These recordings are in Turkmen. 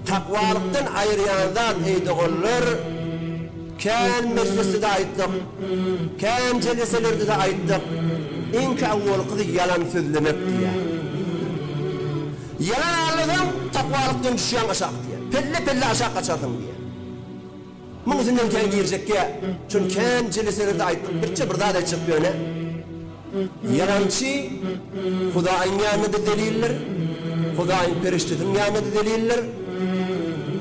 Takwalykdan aýyrýan zat eý doganlar, kän mejlisde-de aýtdyk, kän jeleselerde-de aýtdyk, iňki awwalkysy ýalan sözlemek diýýär. Ýalan aýlasaň, takwalykdan düşýäň aşak diýýär. Pelle-pelle aşak gaçarsyň diýýär. Muň üstünden kän girjek ýa çün kän jeleselerde aýtdyk birje bir zat aýtjak ýöne ýalançy Hudaýyň ýanynda zeliller Hudaýyň perişdesiniň ýanynda zeliller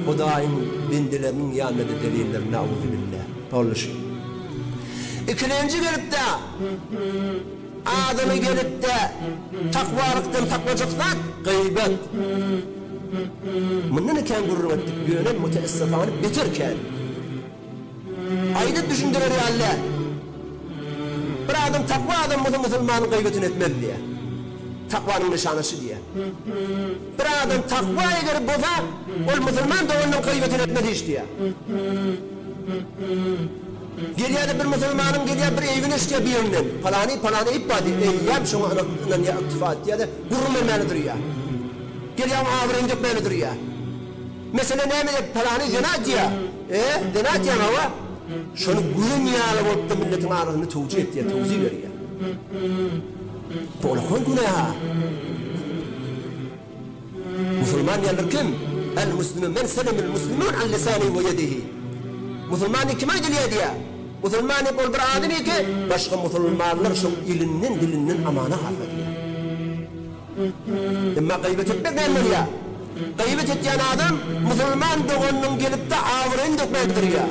Hudaýyň bendeleriniň ýanynda zeliller nauzubilla boluşyn ikilenji gelipdä. Adyny gelip-de takwalykdan saklajak zat, gyýbat. Mundan-da kän gürrüň etdik, ýöne müteessifane beter kän. Aýdyp düşündirer ýaly däl. Bir adam takwa adam bolsa musulmanyň gyýbatyny etmez diýýär. Takwanyň nyşany şu diýýär. Bir adam takwa ederi bolsa, ol musulman doganynyň gyýbatyny etmez hiç diýýär. Gelýär-de bir musulmanyň gelýär bir eýbini eşidýär bir ýerinden. Palany, palany eýip bar diýýär. Eýýäm şoňa ynanýar yktyfa etýär-de, gürrüň bermäne durýar. Gelýär oňa abraýyny dökmäne durýar. Mesele näme diýýär, palany zina edýär. E, zina edýäň hawa. Şony gören ýaly bolup-da milletiň arasynda towjih etýär, towzih berýär. Bu olakan günä-hä. Musulman diýenler kim? El muslimu men selemel muslimun an lisanihi we yedihi. Musulman diýip kim aýdylýar diýýär. Musulman diýip ol bir adam ýeke başga musulmanlar şoň ilinden dilinden amana galsa diýýär. Emma gyýbat etmek näme bolýar? Gyýbat etýän adam musulman doganynyň gelipde abraýyny dökmäge tirýär.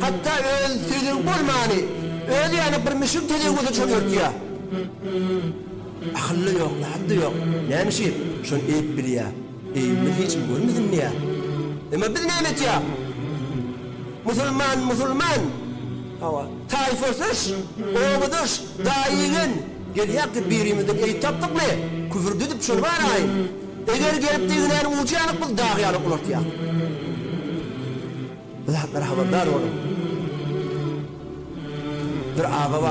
Hatda öz söýdügi bolmany özi ýaly bir müşrik tejewüze çöňertýär. Akyl-da ýok, zat-da ýok. Näme üçin şony edip bilýär? Eýibiňizi hiç kim görmesinmi ýa? Emma biz näme etýäs? Musulman, musulman, hawa, taýfasyş, obadaş, daýy-igen, gelýäk diýip birimizden eýip tapdykmy? Küfürdi edip şony baraýyn. Eger gelip deginäniň ujy ýanyp biz dag ýaly ulaltýarys. Bu zatlara habardar boluň. Bir aga bar.